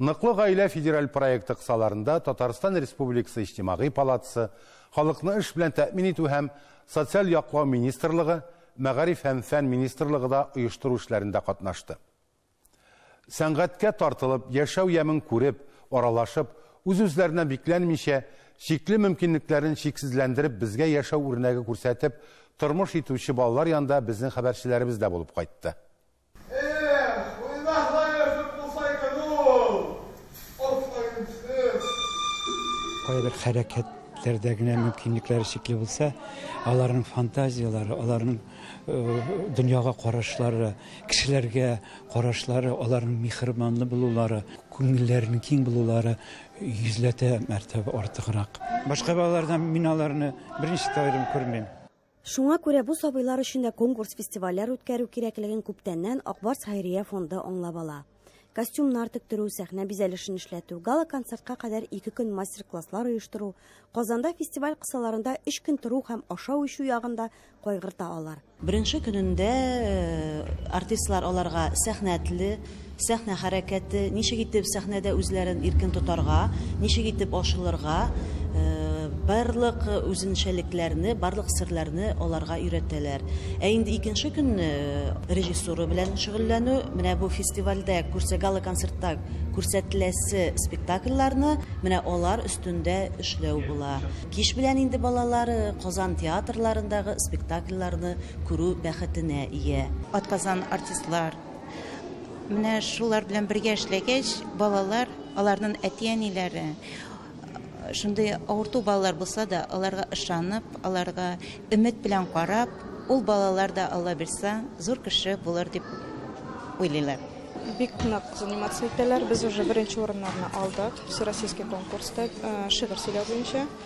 Ныклы гаилә федераль проекты кысаларында Татарстан Республикасы Иҗтимагый палатасы, Халыкны эш белән тәэмин итү һәм социаль яклау министрлыгы, Мәгариф һәм фән министрлыгы да оештыру эшләрендә катнашты. Сәнгатькә тартылып, яшәү ямен күреп, аралашып, үз-үзләренә бикләнмичә, чикле мөмкинлекләрен чиксезләндереп безгә яшәү үрнәге күрсәтеп тормыш итүче балалар янында безнең хәбәрчеләребез дә булып кайтты. Кайбер хәрәкәтләрдә генә мөмкинлекләре чикле булса, аларның фантазияләре, аларның э, дөньяга карашлары, кешеләргә карашлары, аларның михрибанлы булулары, күңелләренең киң булулары йөзләтә мәртәбә артыграк. Башка балалардан мин аларны беренче тәвәдән күрмим. Шуңа күрә бу сабыйлар өчен дә конкурс-фестивальләр үткәрү кирәклеген күптәннән Ак Барс хәйрия фонды аңлап ала. Костюмнар тектерү, сәхнә бизәлешен эшләтү, гала-концертка кадәр ике көн мастер-класслар оештыру, Казанда фестиваль кысаларында өч көн тору һәм ашау-эчү ягын да кайгырта алар. Беренче көнендә артистлар аларга сәхнә теле, Сәхнә хәрәкәте, ничек итеп сәхнәдә үзләрен иркен тотарга, ничек итеп ашылырга, барлык үзенчәлекләрне, барлык серләрне аларга өйрәтәләр. Ә инде икенче көнне режиссура белән шөгыльләнү, менә бу фестивальдә күрсә, гала-концертта күрсәтеләсе спектакльләрне менә алар өстендә эшләү була. Кич белән инде балалар Казан театрларындагы спектакльләрне күрү бәхетенә ия. Атказан артистлар, Менә шулар белән бергә эшләгәч, балалар, аларның әти-әниләре шундый авырту балалар булса да, аларга ышанып, аларга өмет белән карап, ул балалар да Алла бирса, зур кеше булыр дип уйлыйлар. Бик нык заниматься итәләр. Без уже беренче урыннарны алдык. Всероссийский конкурста э, шигырь сөйләү буенча.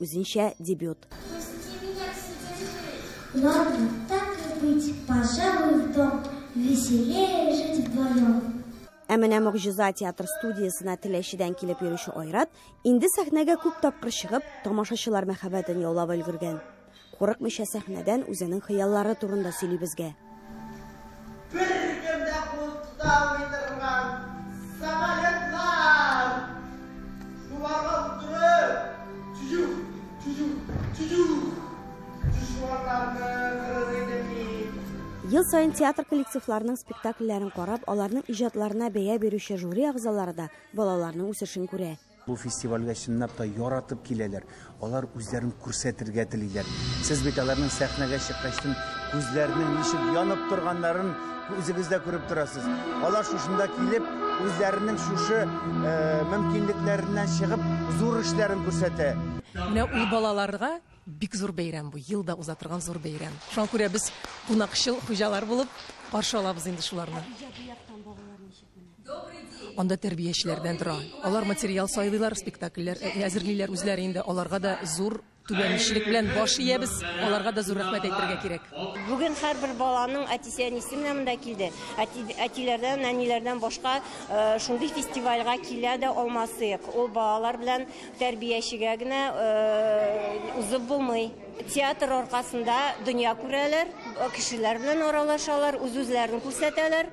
Үзенчә дебют. Ладно, так и быть, пожалуй, в дом. Веселее жить вдвоем. Ә менә Могҗиза театр студиясенә Теләчедән килеп йөрүче Айрат инде сәхнәгә күп тапкыр чыгып, тамашачылар мәхәббәтен яулап өлгергән. Курыкмыйча сәхнәдән үзенең хыяллары турында сөйли безгә. Беркем дә кул тота алмый торган самолетлар! Шуларга утырып, чү-чү, чү-чү, чү-чү! Чү-чү-чуарларны кырыр идем мин. Ел саен театр коллективларының спектакльләрен карап, аларның иҗатларына бәя бирүче жюри әгъзалары да балаларның үсешен күрә. Бу фестивальгә чынлап та яратып киләләр, алар үзләрен күрсәтергә телиләр. Сез бит аларның сәхнәгә чыккачтын күзләренең ничек янып торганнарын үзегез дә күреп торасыз. Алар шушында килеп, үзләренең шушы э, мөмкинлекләреннән чыгып, зур эшләрен күрсәтә. Менә ул балаларга бик зур бәйрәм бу, елда уза торган зур бәйрәм. Шуңа күрә без кунакчыл хуҗалар булып каршы алабыз инде шуларны. Анда тәрбиячеләр белән тора. Алар материал сайлыйлар, спектакльләр әзерлиләр үзләре инде. Аларга да зур түбәнчелек белән баш иябез. Аларга да зур рәхмәт әйтергә кирәк. Бүген һәрбер баланың әтисе-әнисе менә монда килде. Әти, әтиләрдән, нәниләрдән башка э, шундый фестивальгә килә дә алмасыйк. Ул балалар белән тәрбиячегә генә э, узып булмый. Театр аркасында дөнья күрәләр, кешеләр белән аралашалар, үз-үзләрен күрсәтәләр.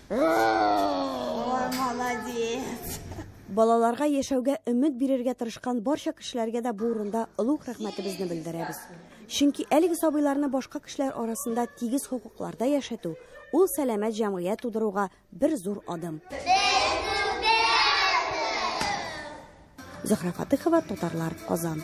Ой, молодец! Балаларга яшәүгә өмет бирергә тырышкан барча кешеләргә дә бу урында олуг рәхмәтебезне белдерәбез. Чөнки әлеге сабыйларны башка кешеләр арасында тигез хокукларда яшәтү, ул сәламәт җәмгыять тудыруга бер зур адым. Зөһрә Фатыхова, Татарлар, Казан.